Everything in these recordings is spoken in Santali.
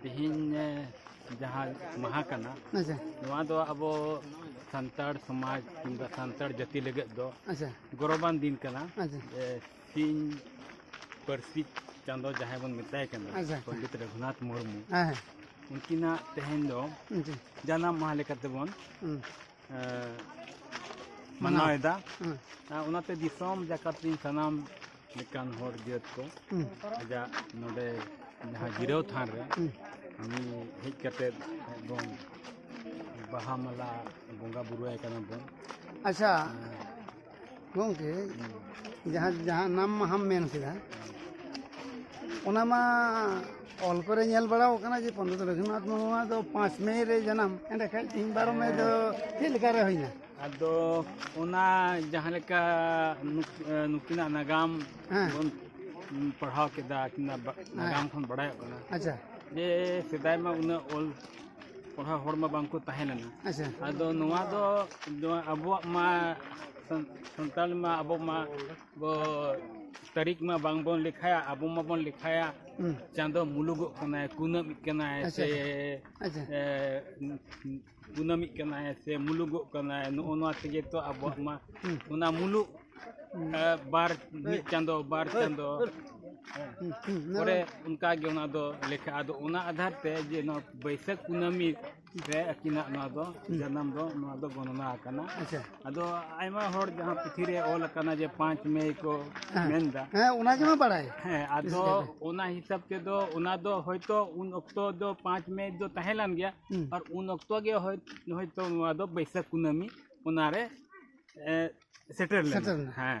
ᱛᱮᱦᱮᱧ ᱡᱟᱦᱟᱸ ᱢᱟᱦᱟ ᱠᱟᱱᱟ ᱟᱪᱪᱷᱟ ᱱᱚᱣᱟ ᱫᱚ ᱟᱵᱚ ᱥᱟᱱᱛᱟᱲ ᱥᱚᱢᱟᱡᱽ ᱠᱤᱝᱵᱟ ᱥᱟᱱᱛᱟᱲ ᱡᱟᱹᱛᱤ ᱞᱟᱹᱜᱤᱫ ᱫᱚ ᱟᱪᱪᱷᱟ ᱜᱚᱨᱚᱵᱟᱱ ᱫᱤᱱ ᱠᱟᱱᱟ ᱟᱪᱪᱷᱟ ᱡᱮ ᱥᱤᱧ ᱯᱟᱹᱨᱥᱤ ᱪᱟᱸᱫᱚ ᱡᱟᱦᱟᱸᱭ ᱵᱚᱱ ᱢᱮᱛᱟᱭ ᱠᱟᱱᱟ ᱟᱪᱪᱷᱟ᱾ ᱯᱚᱱᱰᱤᱛ ᱨᱚᱜᱷᱩᱱᱟᱛᱷ ᱢᱩᱨᱢᱩ ᱦᱮᱸ ᱦᱮᱸ ᱩᱱᱠᱤᱱᱟᱜ ᱛᱮᱦᱮᱧ ᱫᱚ ᱟᱪᱪᱷᱟ ᱡᱟᱱᱟᱢ ᱢᱟᱦᱟ ᱞᱮᱠᱟ ᱛᱮᱵᱚᱱ ᱦᱩᱸ, ᱢᱟᱱᱟᱣᱮᱫᱟ ᱦᱩᱸ, ᱚᱱᱟᱛᱮ ᱫᱤᱥᱚᱢ ᱡᱟᱠᱟᱛ ᱨᱮᱱ ᱥᱟᱱᱟᱢ ᱞᱮᱠᱟᱱ ᱦᱚᱲ ᱡᱟᱹᱛ ᱠᱚ ᱟᱡᱟᱜ ᱱᱚᱰᱮ ᱡᱟᱦᱟᱸ ᱡᱤᱨᱟᱹᱣ ᱛᱷᱟᱱ ᱨᱮ ᱩᱱᱤ ᱦᱮᱡ ᱠᱟᱛᱮᱫ ᱵᱚᱱ ᱵᱟᱦᱟ ᱢᱟᱞᱟ ᱵᱚᱸᱜᱟ ᱵᱩᱨᱩᱭᱟᱭ ᱠᱟᱱᱟ ᱵᱚᱱ ᱟᱪᱪᱷᱟ ᱜᱚᱢᱠᱮ ᱡᱟᱦᱟᱸ ᱡᱟᱦᱟᱸ ᱱᱟᱢ ᱢᱟᱦᱟᱢ ᱢᱮᱱ ᱠᱮᱫᱟ ᱚᱱᱟ ᱢᱟ ᱚᱞ ᱠᱚᱨᱮ ᱧᱮᱞ ᱵᱟᱲᱟᱣ ᱠᱟᱱᱟ ᱡᱮ ᱯᱚᱱᱰᱤᱛ ᱨᱚᱜᱷᱩᱱᱟᱛᱷ ᱢᱩᱨᱢᱩᱣᱟᱜ ᱫᱚ ᱯᱟᱸᱪ ᱢᱮ ᱨᱮ ᱡᱟᱱᱟᱢ ᱮᱸᱰᱮᱠᱷᱟᱡ ᱛᱤᱦᱤᱧ ᱵᱟᱨᱚ ᱢᱮ ᱫᱚ ᱪᱮᱫ ᱞᱮᱠᱟᱨᱮ ᱦᱩᱭᱱᱟ ᱟᱫᱚ ᱚᱱᱟ ᱡᱟᱦᱟᱸ ᱞᱮᱠᱟ ᱱᱩᱠᱤᱱᱟᱜ ᱱᱟᱜᱟᱢ ᱵᱚᱱ ᱯᱟᱲᱦᱟᱣ ᱠᱮᱫᱟ ᱟᱹᱠᱤᱱᱟᱜ ᱱᱟᱜᱟᱢ ᱠᱷᱚᱱ ᱵᱟᱲᱟᱭᱚᱜ ᱠᱟᱱᱟ ᱟᱪᱪᱷᱟ ᱡᱮ ᱥᱮᱫᱟᱭ ᱢᱟ ᱩᱱᱟᱹᱜ ᱚᱞ ᱯᱟᱲᱦᱟᱣ ᱦᱚᱲ ᱢᱟ ᱵᱟᱝᱠᱚ ᱛᱟᱦᱮᱸ ᱞᱮᱱᱟ ᱟᱪᱪᱷᱟ ᱟᱫᱚ ᱱᱚᱣᱟ ᱫᱚ ᱟᱵᱚᱣᱟᱜ ᱢᱟ ᱥᱟᱱᱛᱟᱲ ᱢᱟ ᱟᱵᱚ ᱢᱟ ᱵᱚ ᱛᱟᱹᱨᱤᱠᱷ ᱢᱟ ᱵᱟᱝᱵᱚᱱ ᱞᱮᱠᱷᱟᱭᱟ ᱟᱵᱚ ᱢᱟᱵᱚᱱ ᱞᱮᱠᱷᱟᱭᱟ ᱪᱟᱸᱫᱚ ᱢᱩᱞᱩᱜᱚᱜ ᱠᱟᱱᱟᱭ ᱠᱩᱱᱟᱹᱢᱤᱜ ᱠᱟᱱᱟᱭ ᱥᱮ ᱠᱩᱱᱟᱹᱢᱤᱜ ᱠᱟᱱᱟᱭ ᱥᱮ ᱢᱩᱞᱩᱜᱚᱜ ᱠᱟᱱᱟᱭ ᱱᱚᱜᱼᱚ ᱱᱚᱣᱟ ᱛᱮᱜᱮ ᱛᱚ ᱟᱵᱚᱣᱟᱜ ᱢᱟ ᱚᱱᱟ ᱢᱩᱞᱩᱜ ᱟᱨ ᱵᱟᱨ ᱢᱤᱫ ᱪᱟᱸᱫᱚ ᱵᱟᱨ ᱪᱟᱸᱫᱚ ᱯᱚᱨᱮ ᱚᱱᱠᱟᱜᱮ ᱚᱱᱟ ᱫᱚ ᱞᱮᱠᱷᱟᱜᱼᱟ ᱟᱫᱚ ᱚᱱᱟ ᱟᱫᱷᱟᱨ ᱛᱮ ᱡᱮ ᱱᱚᱣᱟ ᱵᱟᱹᱭᱥᱟᱹᱠᱷ ᱠᱩᱱᱟᱹᱢᱤ ᱨᱮ ᱟᱹᱠᱤᱱᱟᱜ ᱱᱚᱣᱟ ᱫᱚ ᱡᱟᱱᱟᱢ ᱫᱚ ᱱᱚᱣᱟ ᱫᱚ ᱜᱚᱱᱚᱱᱟ ᱟᱠᱟᱱᱟ ᱟᱫᱚ ᱟᱭᱢᱟ ᱦᱚᱲ ᱡᱟᱦᱟᱸ ᱯᱩᱛᱷᱤ ᱨᱮ ᱚᱞ ᱟᱠᱟᱱᱟ ᱡᱮ ᱯᱟᱸᱪ ᱢᱮ ᱠᱚ ᱢᱮᱱᱫᱟ ᱦᱮᱸ ᱚᱱᱟ ᱜᱮᱢᱟ ᱵᱟᱲᱟᱭ ᱦᱮᱸ ᱟᱫᱚ ᱚᱱᱟ ᱦᱤᱥᱟᱹᱵ ᱛᱮᱫᱚ ᱚᱱᱟ ᱫᱚ ᱦᱚᱭᱛᱚ ᱩᱱ ᱚᱠᱛᱚ ᱫᱚ ᱯᱟᱸᱪ ᱢᱮ ᱫᱚ ᱛᱟᱦᱮᱸ ᱞᱮᱱ ᱜᱮᱭᱟ ᱟᱨ ᱩᱱ ᱚᱠᱛᱚ ᱜᱮ ᱦᱚᱭᱛᱚ ᱱᱚᱣᱟ ᱫᱚ ᱵᱟᱹᱭᱥᱟᱹᱠᱷ ᱠᱩᱱᱟᱹᱢᱤ ᱚᱱᱟᱨᱮ ᱥᱮᱴᱮᱨ ᱞᱮᱱᱟ ᱦᱮᱸ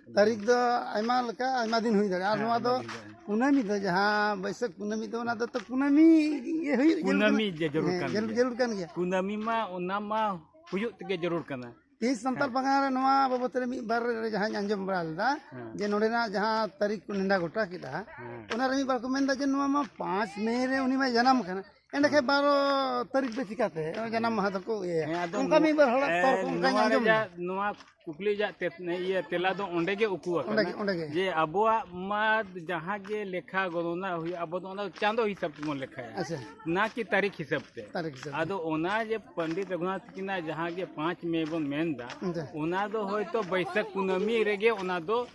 ᱛᱟᱹᱨᱤᱠᱷ ᱫᱚ ᱟᱭᱢᱟ ᱞᱮᱠᱟ ᱟᱭᱢᱟ ᱫᱤᱱ ᱦᱩᱭ ᱫᱟᱲᱮᱭᱟᱜᱼᱟ ᱟᱨ ᱱᱚᱣᱟ ᱫᱚ ᱠᱩᱱᱟᱹᱢᱤ ᱫᱚ ᱡᱟᱦᱟᱸ ᱵᱟᱹᱭᱥᱟᱹᱠᱷ ᱠᱩᱱᱟᱹᱢᱤ ᱫᱚ ᱚᱱᱟ ᱫᱚ ᱛᱚ ᱠᱩᱱᱟᱹᱢᱤ ᱜᱮ ᱦᱩᱭᱩᱜ ᱡᱟᱹᱨᱩᱲ ᱠᱟᱱᱟ᱾ ᱠᱩᱱᱟᱹᱢᱤ ᱡᱮ ᱡᱟᱹᱨᱩᱲ ᱠᱟᱱ ᱦᱮᱸ, ᱜᱮᱭᱟ᱾ ᱡᱟᱹᱨᱩᱲ ᱠᱟᱱ ᱜᱮᱭᱟ ᱠᱩᱱᱟᱹᱢᱤ ᱢᱟ ᱚᱱᱟ ᱢᱟ ᱦᱩᱭᱩᱜ ᱛᱮᱜᱮ ᱡᱟᱹᱨᱩᱲ ᱠᱟᱱᱟ ᱛᱮᱦᱮᱧ ᱥᱟᱱᱛᱟᱲ ᱯᱟᱨᱜᱟᱱᱟ ᱨᱮ ᱱᱚᱣᱟ ᱵᱟᱵᱚᱛ ᱨᱮ ᱢᱤᱫ ᱵᱟᱨ ᱨᱮ ᱡᱟᱦᱟᱸᱧ ᱟᱸᱡᱚᱢ ᱵᱟᱲᱟ ᱞᱮᱫᱟ ᱡᱮ ᱱᱚᱰᱮᱱᱟᱜ ᱡᱟᱦᱟᱸ ᱛᱟᱹᱨᱤᱠᱷ ᱠᱚ ᱱᱮᱰᱟ ᱜᱚᱴᱟ ᱠᱮᱫᱟ ᱚᱱᱟᱨᱮ ᱢᱤᱫ ᱵᱟᱨ ᱠᱚ ᱢᱮᱱᱫᱟ ᱡᱮ ᱱᱚᱣᱟ ᱢᱟ ᱯᱟᱸᱪ ᱢᱮ ᱨᱮ ᱩᱱᱤ ᱢᱟᱭ ᱡᱟᱱᱟᱢ ᱠᱟᱱᱟ ᱮᱸᱰᱮᱠᱷᱟᱱ ᱵᱟᱨᱚ ᱛᱟᱹᱨᱤᱠᱷ ᱫᱚ ᱪᱤᱠᱟᱛᱮ ᱡᱟᱱᱟᱢ ᱢᱟᱦᱟ ᱫᱚᱠᱚ ᱤᱭᱟᱹᱭᱟ ᱚᱱᱠᱟ ᱢᱤᱫ ᱵᱟᱨ ᱦᱚᱲᱟᱜ ᱛᱚᱨᱠ ᱚᱱᱠᱟᱧ ᱟᱸᱡᱚᱢ ᱱᱚᱣᱟ ᱠᱩᱠᱞᱤ ᱨᱮᱭᱟᱜ ᱤᱭᱟᱹ ᱛᱮᱞᱟ ᱫᱚ ᱚᱸᱰᱮ ᱜᱮ ᱩᱠᱩ ᱟᱠᱟᱱᱟ ᱚᱸᱰᱮ ᱜᱮ ᱡᱮ ᱟᱵᱚᱣᱟᱜ ᱢᱟ ᱡᱟᱦᱟᱸ ᱜᱮ ᱞᱮᱠᱷᱟ ᱜᱚᱱᱚᱱᱟ ᱦᱩᱭᱩᱜᱼᱟ ᱟᱵᱚ ᱫᱚ ᱚᱱᱟ ᱪᱟᱸᱫᱚ ᱦᱤᱥᱟᱹᱵ ᱛᱮᱵᱚᱱ ᱞᱮᱠᱷᱟᱭᱟ ᱟᱪᱪᱷᱟ ᱱᱟ ᱠᱤ ᱛᱟᱹᱨᱤᱠᱷ ᱦᱤᱥᱟᱹᱵ ᱛᱮ ᱛᱟᱹᱨᱤᱠᱷ ᱦᱤᱥᱟᱹᱵ ᱟᱫᱚ ᱚᱱᱟ ᱡᱮ ᱯᱚᱱᱰᱤᱛ ᱨᱚᱜᱷᱩᱱᱟᱛᱷ ᱠᱤᱱᱟᱜ ᱡᱟᱦᱟᱸ ᱜᱮ ᱯᱟᱸᱪ ᱢᱮ ᱵᱚᱱ ᱢᱮᱱᱫᱟ ᱚᱱᱟ ᱫᱚ ᱦᱚᱭᱛᱚ ᱵᱟᱹᱭᱥᱟᱹᱠᱷ ᱠᱩᱱᱟᱹᱢᱤ ᱨᱮᱜᱮ ᱚᱱᱟ ᱫᱚ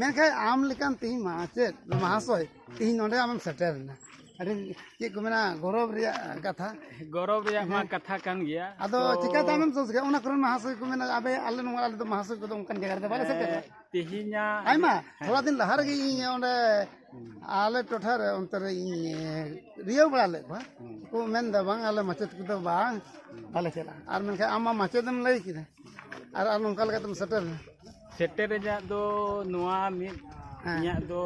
ᱢᱮᱱᱠᱷᱟᱱ ᱟᱢ ᱞᱮᱠᱟᱱ ᱛᱤᱦᱤᱧ ᱢᱟᱪᱮᱫ ᱢᱟᱦᱟᱥᱚᱭ ᱛᱤᱦᱤᱧ ᱱᱚᱰᱮ ᱟᱢᱮᱢ ᱥᱮᱴᱮᱨᱮᱱᱟ ᱟᱹᱰᱤ ᱪᱮᱫ ᱠᱚ ᱢᱮᱱᱟ ᱜᱚᱨᱚᱵᱽ ᱨᱮᱭᱟᱜ ᱠᱟᱛᱷᱟ ᱜᱚᱨᱚᱵᱽ ᱨᱮᱭᱟᱜ ᱢᱟ ᱠᱟᱛᱷᱟ ᱠᱟᱱ ᱜᱮᱭᱟ ᱟᱫᱚ ᱪᱤᱠᱟᱛᱮ ᱟᱢᱮᱢ ᱥᱚᱥ ᱜᱮᱭᱟ ᱚᱱᱟ ᱠᱚᱨᱮᱱ ᱢᱟᱦᱟᱥᱚᱭ ᱠᱚ ᱢᱮᱱᱟ ᱟᱵᱮ ᱟᱞᱮ ᱱᱚᱣᱟ ᱟᱞᱮ ᱫᱚ ᱢᱟᱦᱟᱥᱚᱭ ᱠᱚᱫᱚ ᱚᱱᱠᱟᱱ ᱡᱟᱭᱜᱟ ᱨᱮᱫᱚ ᱵᱟᱞᱮ ᱥᱮᱴᱮᱨᱟ ᱛᱮᱦᱮᱧᱟᱜ ᱟᱭᱢᱟ ᱛᱷᱚᱲᱟ ᱫᱤᱱ ᱞᱟᱦᱟ ᱨᱮᱜᱮ ᱤᱧ ᱚᱸᱰᱮ ᱟᱞᱮ ᱴᱚᱴᱷᱟ ᱨᱮ ᱚᱱᱛᱮ ᱨᱮ ᱤᱧ ᱨᱤᱭᱟᱹᱣ ᱵᱟᱲᱟ ᱞᱮᱫ ᱠᱚᱣᱟ ᱠᱚ ᱢᱮᱱᱫᱟ ᱵᱟᱝ ᱟᱞᱮ ᱢᱟᱪᱮᱫ ᱠᱚᱫᱚ ᱵᱟᱝ ᱵᱟᱞᱮ ᱪᱟᱞᱟᱜᱼᱟ ᱟᱨ ᱢᱮᱱᱠᱷᱟᱱ ᱟᱢ ᱢᱟ ᱢᱟᱪᱮᱫ ᱮᱢ ᱞᱟᱹᱭ ᱠᱮᱫᱟ ᱟᱨ ᱟᱨ ᱱᱚᱝᱠᱟ ᱞᱮᱠᱟᱛᱮᱢ ᱥᱮᱴᱮᱨ ᱥᱮᱴᱮᱨ ᱨᱮᱭᱟᱜ ᱫᱚ ᱱᱚᱣᱟ ᱢᱤᱫ ᱦᱮᱸ᱾ ᱤᱧᱟᱹᱜ ᱫᱚ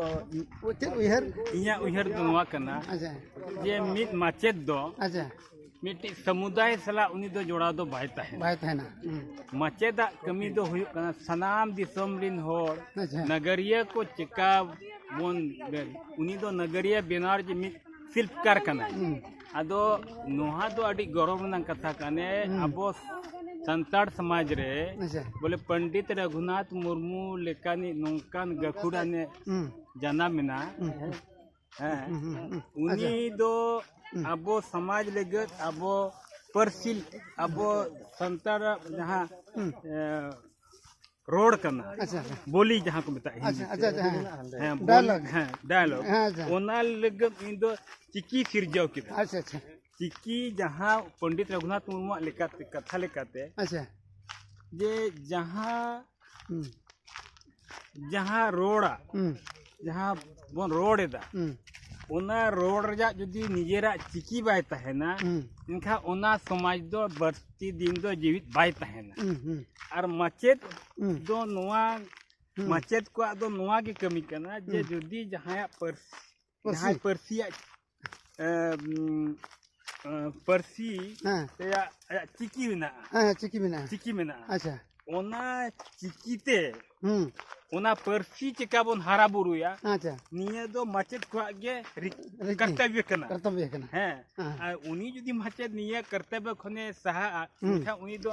ᱪᱮᱫ ᱩᱭᱦᱟᱹᱨ ᱤᱧᱟᱹᱜ ᱩᱭᱦᱟᱹᱨ ᱫᱚ ᱱᱚᱣᱟ ᱠᱟᱱᱟ ᱟᱪᱪᱷᱟ ᱡᱮ ᱢᱤᱫ ᱢᱟᱪᱮᱫ ᱫᱚ ᱟᱪᱪᱷᱟ ᱢᱤᱫᱴᱤᱡ ᱥᱚᱢᱩᱫᱟᱭ ᱥᱟᱞᱟᱜ ᱩᱱᱤ ᱫᱚ ᱡᱚᱲᱟᱣ ᱫᱚ ᱵᱟᱭ ᱛᱟᱦᱮᱱᱟ ᱵᱟᱭ ᱛᱟᱦᱮᱱᱟ ᱦᱩᱸ᱾ ᱢᱟᱪᱮᱫᱟᱜ ᱠᱟᱹᱢᱤ ᱫᱚ ᱦᱩᱭᱩᱜ ᱠᱟᱱᱟ ᱥᱟᱱᱟᱢ ᱫᱤᱥᱚᱢ ᱨᱤᱱ ᱦᱚᱲ ᱟᱪᱪᱷᱟ ᱱᱟᱜᱟᱨᱤᱭᱟᱹ ᱠᱚ ᱪᱮᱠᱟ ᱵᱚᱱ ᱩᱱᱤ ᱫᱚ ᱱᱟᱜᱟᱨᱤᱭᱟᱹ ᱵᱮᱱᱟᱣ ᱨᱮ ᱢᱤᱫ ᱥᱤᱞᱯᱠᱟᱨ ᱠᱟᱱᱟᱭ ᱦᱩᱸ᱾ ᱟᱫᱚ ᱱᱚᱣᱟ ᱫᱚ ᱟᱹᱰᱤ ᱜᱚᱨᱚᱵᱽ ᱨᱮᱱᱟᱜ ᱠᱟᱛᱷᱟ ᱠᱟᱱᱮ ᱟᱵᱚ ᱥᱟᱱᱛᱟᱲ ᱥᱚᱢᱟᱡᱽ ᱨᱮ ᱟᱪᱪᱷᱟ ᱵᱚᱞᱮ ᱯᱚᱱᱰᱤᱛ ᱨᱟᱹᱜᱷᱩᱱᱟᱛᱷ ᱢᱩᱨᱢᱩ ᱞᱮᱠᱟᱱᱤᱡ ᱱᱚᱝᱠᱟᱱ ᱜᱟᱹᱠᱷᱩᱲᱟᱱᱮ ᱦᱩᱸ ᱡᱟᱱᱟᱢ ᱮᱱᱟ ᱦᱮᱸ ᱦᱩᱸ ᱦᱩᱸ ᱦᱩᱸ ᱩᱱᱤ ᱫᱚ ᱟᱵᱚ ᱥᱚᱢᱟᱡᱽ ᱞᱟᱹᱜᱤᱫ ᱟᱵᱚ ᱯᱟᱹᱨᱥᱤ ᱟᱵᱚ ᱥᱟᱱᱛᱟᱲᱟᱜ ᱡᱟᱦᱟᱸ ᱮ, ᱨᱚᱲ ᱠᱟᱱᱟ ᱵᱚᱞᱤ ᱡᱟᱦᱟᱸ ᱠᱚ ᱢᱮᱛᱟᱜ ᱰᱟᱭᱞᱚᱜ ᱦᱮᱸ ᱰᱟᱭᱞᱚᱜ ᱚᱱᱟ ᱞᱟᱹᱜᱤᱫ ᱤᱧ ᱫᱚ ᱪᱤᱠᱤ ᱥᱤᱨᱡᱟᱹᱣ ᱠᱮᱫᱟ ᱟᱪᱪᱷᱟ ᱟᱪᱪᱷᱟ ᱪᱤᱠᱤ ᱡᱟᱦᱟᱸ ᱯᱚᱱᱰᱤᱛ ᱨᱚᱜᱷᱩᱱᱟᱛᱷ ᱢᱩᱨᱢᱩᱣᱟᱜ ᱞᱮᱠᱟᱛᱮ ᱠᱟᱛᱷᱟ ᱞᱮᱠᱟᱛᱮ ᱟᱪᱪᱷᱟ ᱡᱮ ᱡᱟᱦᱟᱸ ᱡᱟᱦᱟᱸ ᱨᱚᱲᱟ ᱡᱟᱦᱟᱸ ᱵᱚᱱ ᱨᱚᱲ ᱮᱫᱟ ᱚᱱᱟ ᱨᱚᱲ ᱨᱮᱭᱟᱜ ᱡᱩᱫᱤ ᱱᱤᱡᱮᱨᱟᱜ ᱪᱤᱠᱤ ᱵᱟᱭ ᱛᱟᱦᱮᱱᱟ ᱮᱱᱠᱷᱟᱱ ᱚᱱᱟ ᱥᱚᱢᱟᱡᱽ ᱫᱚ ᱵᱟᱹᱲᱛᱤ ᱫᱤᱱ ᱫᱚ ᱡᱤᱣᱤᱫ ᱵᱟᱭ ᱛᱟᱦᱮᱱᱟ ᱟᱨ ᱢᱟᱪᱮᱫ ᱫᱚ ᱱᱚᱣᱟ ᱢᱟᱪᱮᱫ ᱠᱚᱣᱟᱜ ᱫᱚ ᱱᱚᱣᱟ ᱜᱮ ᱠᱟᱹᱢᱤ ᱠᱟᱱᱟ ᱡᱮ ᱡᱩᱫᱤ ᱡᱟᱦᱟᱸᱭᱟᱜ ᱯᱟᱹᱨᱥᱤ ᱡᱟᱦᱟᱸᱭ ᱯᱟᱹᱨᱥᱤᱭᱟᱜ ᱯᱟᱹᱨᱥᱤ ᱨᱮᱭᱟᱜ ᱟᱭᱟᱜ ᱪᱤᱠᱤ ᱢᱮᱱᱟᱜᱼᱟ ᱦᱮᱸ ᱪᱤᱠᱤ ᱢᱮᱱᱟᱜᱼᱟ ᱪᱤᱠᱤ ᱢᱮᱱᱟᱜᱼᱟ ᱟᱪᱪᱷᱟ ᱚᱱᱟ ᱪᱤᱠᱤᱛᱮ ᱚᱱᱟ ᱯᱟᱹᱨᱥᱤ ᱪᱮᱠᱟ ᱵᱚᱱ ᱦᱟᱨᱟ ᱵᱩᱨᱩᱭᱟ ᱟᱪᱪᱷᱟ ᱱᱤᱭᱟᱹ ᱫᱚ ᱢᱟᱪᱮᱫ ᱠᱚᱣᱟᱜ ᱜᱮ ᱠᱟᱨᱛᱚᱵᱽᱭᱚ ᱠᱟᱱᱟ ᱠᱟᱨᱛᱚᱵᱽᱭᱚ ᱠᱟᱱᱟ ᱦᱮᱸ ᱟᱨ ᱩᱱᱤ ᱡᱩᱫᱤ ᱢᱟᱪᱮᱫ ᱱᱤᱭᱟᱹ ᱠᱟᱨᱛᱚᱵᱽᱭᱚ ᱠᱷᱚᱱᱮ ᱥᱟᱦᱟᱜᱼᱟ ᱮᱱᱠᱷᱟᱱ ᱩᱱᱤ ᱫᱚ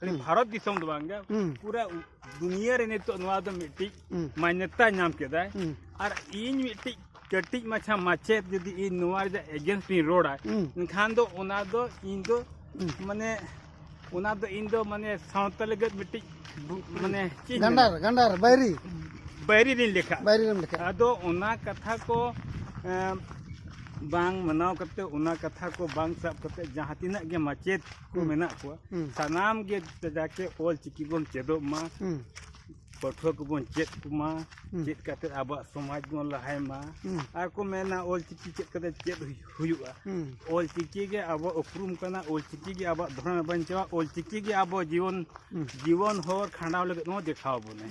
ᱠᱷᱟᱹᱞᱤ ᱵᱷᱟᱨᱚᱛ ᱫᱤᱥᱚᱢ ᱫᱚ ᱵᱟᱝᱜᱮ ᱯᱩᱨᱟᱹ ᱫᱩᱱᱤᱭᱟᱹ ᱨᱮ ᱱᱤᱛᱚᱜ ᱱᱚᱣᱟ ᱫᱚ ᱢᱤᱫᱴᱤᱡ ᱢᱟᱱᱭᱚᱛᱟ ᱧᱟᱢ ᱠᱮᱫᱟᱭ ᱟᱨ ᱤᱧ ᱢᱤᱫᱴᱤᱡ ᱠᱟᱹᱴᱤᱡ ᱢᱟᱪᱷᱟ ᱢᱟᱪᱮᱫ ᱡᱩᱫᱤ ᱤᱧ ᱱᱚᱣᱟ ᱨᱮᱭᱟᱜ ᱮᱜᱮᱱᱥᱴ ᱤᱧ ᱨᱚᱲᱟ ᱮᱱᱠᱷᱟᱱ ᱫᱚ ᱚᱱᱟ ᱫᱚ ᱤᱧ ᱫᱚ ᱢᱟᱱᱮ ᱚᱱᱟ ᱫᱚ ᱤᱧ ᱫᱚ ᱢᱟᱱᱮ ᱥᱟᱶᱛᱟ ᱞᱟᱹᱜᱤᱫ ᱢᱤᱫᱴᱤᱡ ᱢᱟᱱᱮ ᱪᱮᱫ ᱜᱟᱱᱰᱟᱨ ᱜᱟᱱᱰᱟᱨ ᱵᱟᱭᱨᱤ ᱵᱟᱭᱨᱤ ᱨᱤᱧ ᱞᱮᱠᱷᱟ ᱵᱟᱭᱨᱤ ᱨᱮᱢ ᱞᱮᱠᱷᱟ ᱟᱫᱚ ᱚᱱᱟ ᱠᱟᱛᱷᱟ ᱠᱚ ᱵᱟᱝ ᱢᱟᱱᱟᱣ ᱠᱟᱛᱮ ᱚᱱᱟ ᱠᱟᱛᱷᱟ ᱠᱚ ᱵᱟᱝ ᱥᱟᱵ ᱠᱟᱛᱮ ᱡᱟᱦᱟᱸ ᱛᱤᱱᱟᱹᱜ ᱜᱮ ᱢᱟᱪᱮᱫ ᱠᱚ ᱢᱮᱱᱟᱜ ᱠᱚᱣᱟ ᱥᱟᱱᱟᱢ ᱜᱮ ᱡᱟᱛᱮ ᱚᱞ ᱪᱤᱠᱤ ᱵᱚᱱ ᱪᱮᱫᱚᱜ ᱢᱟ ᱯᱟᱹᱴᱷᱩᱣᱟᱹ ᱠᱚᱵᱚᱱ ᱪᱮᱫ ᱠᱚᱢᱟ ᱪᱮᱫ ᱠᱟᱛᱮ ᱟᱵᱚᱣᱟᱜ ᱥᱚᱢᱟᱡᱽ ᱵᱚᱱ ᱞᱟᱦᱟᱭ ᱢᱟ ᱟᱨ ᱠᱚ ᱢᱮᱱᱟ ᱚᱞ ᱪᱤᱠᱤ ᱪᱮᱫ ᱠᱟᱛᱮ ᱪᱮᱫ ᱦᱩᱭᱩᱜᱼᱟ ᱚᱞ ᱪᱤᱠᱤ ᱜᱮ ᱟᱵᱚᱣᱟᱜ ᱩᱯᱨᱩᱢ ᱠᱟᱱᱟ ᱚᱞ ᱪᱤᱠᱤ ᱜᱮ ᱟᱵᱚᱣᱟᱜ ᱫᱷᱚᱨᱚᱢᱮ ᱵᱟᱧᱪᱟᱣᱟ ᱚᱞ ᱪᱤᱠᱤ ᱜᱮ ᱟᱵᱚ ᱡᱤᱭᱚᱱ ᱡᱤᱵᱚᱱ ᱦᱚᱨ ᱠᱷᱟᱸᱰᱟᱣ ᱞᱟᱹᱜᱤᱫ ᱦᱚᱸ ᱫᱮᱠᱷᱟᱣ ᱵᱚᱱᱟᱭ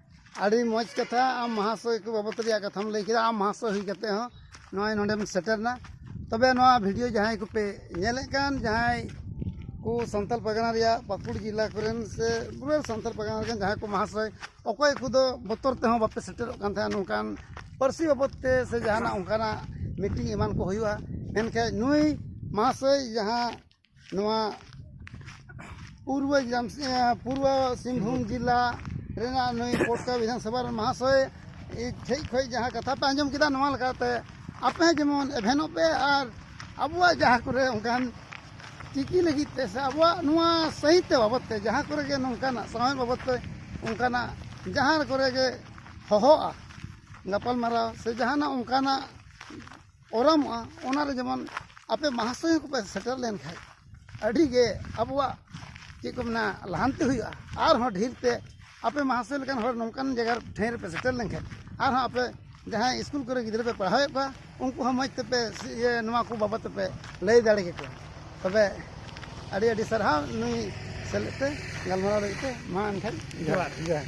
ᱟᱹᱰᱤ ᱢᱚᱡᱽ ᱠᱟᱛᱷᱟ ᱟᱢ ᱢᱚᱦᱟᱥᱚᱭ ᱠᱚ ᱵᱟᱵᱚᱛ ᱨᱮᱭᱟᱜ ᱠᱟᱛᱷᱟᱢ ᱞᱟᱹᱭ ᱠᱮᱫᱟ ᱟᱢ ᱢᱚᱦᱟᱥᱚᱭ ᱦᱩᱭ ᱠᱟᱛᱮ ᱦᱚᱸ ᱱᱚᱜᱼᱚᱭ ᱱᱚᱰᱮᱢ ᱥᱮᱴᱮᱨ ᱮᱱᱟ ᱛᱚᱵᱮ ᱱᱚᱣᱟ ᱵᱷᱤᱰᱤᱭᱳ ᱡᱟᱦᱟᱸᱭ ᱠᱚᱯᱮ ᱧᱮᱞᱮᱫ ᱠᱟᱱ ᱡᱟᱦᱟᱸᱭ ᱠᱚ ᱥᱟᱱᱛᱟᱲ ᱯᱟᱨᱜᱟᱱᱟ ᱨᱮᱭᱟᱜ ᱯᱟᱹᱠᱩᱲ ᱡᱮᱞᱟ ᱠᱚᱨᱮᱱ ᱥᱮ ᱯᱩᱨᱟᱹ ᱥᱟᱱᱛᱟᱲ ᱯᱟᱨᱜᱟᱱᱟ ᱨᱮᱱ ᱡᱟᱦᱟᱸᱭ ᱠᱚ ᱢᱚᱦᱟᱥᱚᱭ ᱚᱠᱚᱭ ᱠᱚᱫᱚ ᱵᱚᱛᱚᱨ ᱛᱮᱦᱚᱸ ᱵᱟᱯᱮ ᱥᱮᱴᱮᱨᱚᱜ ᱠᱟᱱ ᱛᱟᱦᱮᱸᱫ ᱱᱚᱝᱠᱟᱱ ᱯᱟᱹᱨᱥᱤ ᱵᱟᱵᱚᱛ ᱛᱮ ᱥᱮ ᱡᱟᱦᱟᱱᱟᱜ ᱚᱱᱠᱟᱱᱟᱜ ᱢᱤᱴᱤᱝ ᱮᱢᱟᱱ ᱠᱚ ᱦᱩᱭᱩᱜᱼᱟ ᱢᱮᱱᱠᱷᱟᱱ ᱱᱩᱭ ᱢᱚᱦᱟᱥᱚᱭ ᱡᱟᱦᱟᱸ ᱱᱚᱣᱟ ᱯᱩᱨᱵᱚ ᱯᱩᱨᱵᱚ ᱥᱤᱝᱵᱷᱩᱢ ᱡᱮᱞᱟ ᱨᱮᱱᱟᱜ ᱱᱩᱭ ᱯᱚᱴᱠᱟ ᱵᱤᱫᱷᱟᱱ ᱥᱚᱵᱷᱟ ᱨᱮᱱ ᱢᱟᱦᱟᱥᱚᱭ ᱴᱷᱮᱡ ᱠᱷᱚᱡ ᱡᱟᱦᱟᱸ ᱠᱟᱛᱷᱟ ᱯᱮ ᱟᱸᱡᱚᱢ ᱠᱮᱫᱟ ᱱᱚᱣᱟ ᱞᱮᱠᱟᱛᱮ ᱟᱯᱮ ᱦᱚᱸ ᱡᱮᱢᱚᱱ ᱮᱵᱷᱮᱱᱚᱜ ᱯᱮ ᱟᱨ ᱟᱵᱚᱣᱟᱜ ᱡᱟᱦᱟᱸ ᱠᱚᱨᱮ ᱚᱱᱠᱟᱱ ᱪᱤᱠᱤ ᱞᱟᱹᱜᱤᱫ ᱛᱮ ᱥᱮ ᱟᱵᱚᱣᱟᱜ ᱱᱚᱣᱟ ᱥᱟᱹᱦᱤᱛᱛᱮ ᱵᱟᱵᱚᱫ ᱛᱮ ᱡᱟᱦᱟᱸ ᱠᱚᱨᱮ ᱜᱮ ᱱᱚᱝᱠᱟᱱᱟᱜ ᱥᱟᱶᱦᱮᱫ ᱵᱟᱵᱚᱫ ᱛᱮ ᱚᱱᱠᱟᱱᱟᱜ ᱡᱟᱦᱟᱸ ᱠᱚᱨᱮ ᱜᱮ ᱦᱚᱦᱚᱜᱼᱟ ᱜᱟᱯᱟᱞᱢᱟᱨᱟᱣ ᱥᱮ ᱡᱟᱦᱟᱱᱟᱜ ᱚᱱᱠᱟᱱᱟᱜ ᱚᱨᱚᱢᱚᱜᱼᱟ ᱚᱱᱟ ᱨᱮ ᱡᱮᱢᱚᱱ ᱟᱯᱮ ᱢᱟᱦᱟᱥᱚᱭ ᱠᱚᱯᱮ ᱥᱮᱴᱮᱨ ᱞᱮᱱᱠᱷᱟᱡ ᱟᱹᱰᱤ ᱜᱮ ᱟᱵᱚᱣᱟᱜ ᱪᱮᱫ ᱠᱚ ᱢᱮᱱᱟ ᱞᱟᱦᱟᱱᱛᱤ ᱦᱩᱭᱩᱜᱼᱟ ᱟᱨ ᱦᱚᱸ ᱰᱷᱮᱨ ᱛᱮ ᱟᱯᱮ ᱢᱟᱦᱟᱥᱚᱭ ᱞᱮᱠᱟᱱ ᱦᱚᱲ ᱱᱚᱝᱠᱟᱱ ᱡᱟᱭᱜᱟ ᱨᱮ ᱴᱷᱟᱶ ᱨᱮᱯᱮ ᱥᱮᱴᱮᱨ ᱞᱮᱱᱠᱷᱟᱡ ᱟᱨ ᱦᱚᱸ ᱟᱯᱮ ᱡᱟᱦᱟᱸᱭ ᱤᱥᱠᱩᱞ ᱠᱚᱨᱮ ᱜᱤᱫᱽᱨᱟᱹ ᱯᱮ ᱯᱟᱲᱦᱟᱣᱮᱫ ᱠᱚᱣᱟ ᱩᱱᱠᱩ ᱦᱚᱸ ᱢᱚᱡᱽ ᱛᱮᱯᱮ ᱤᱭᱟᱹ ᱱᱚᱣᱟ ᱠᱚ ᱵᱟᱵᱚᱫ ᱛᱮᱯᱮ ᱞᱟᱹᱭ ᱫᱟᱲᱮ ᱠᱮᱠᱚᱣᱟ ᱛᱚᱵᱮ ᱟᱹᱰᱤ ᱟᱹᱰᱤ ᱥᱟᱨᱦᱟᱣ ᱱᱩᱭ ᱥᱮᱞᱮᱫ ᱛᱮ ᱜᱟᱞᱢᱟᱨᱟᱣ ᱞᱟᱹᱜᱤᱫ ᱛᱮ ᱢᱟ ᱮᱱᱠᱷᱟᱱ ᱡᱚᱦᱟᱨ ᱡᱚᱦᱟᱨ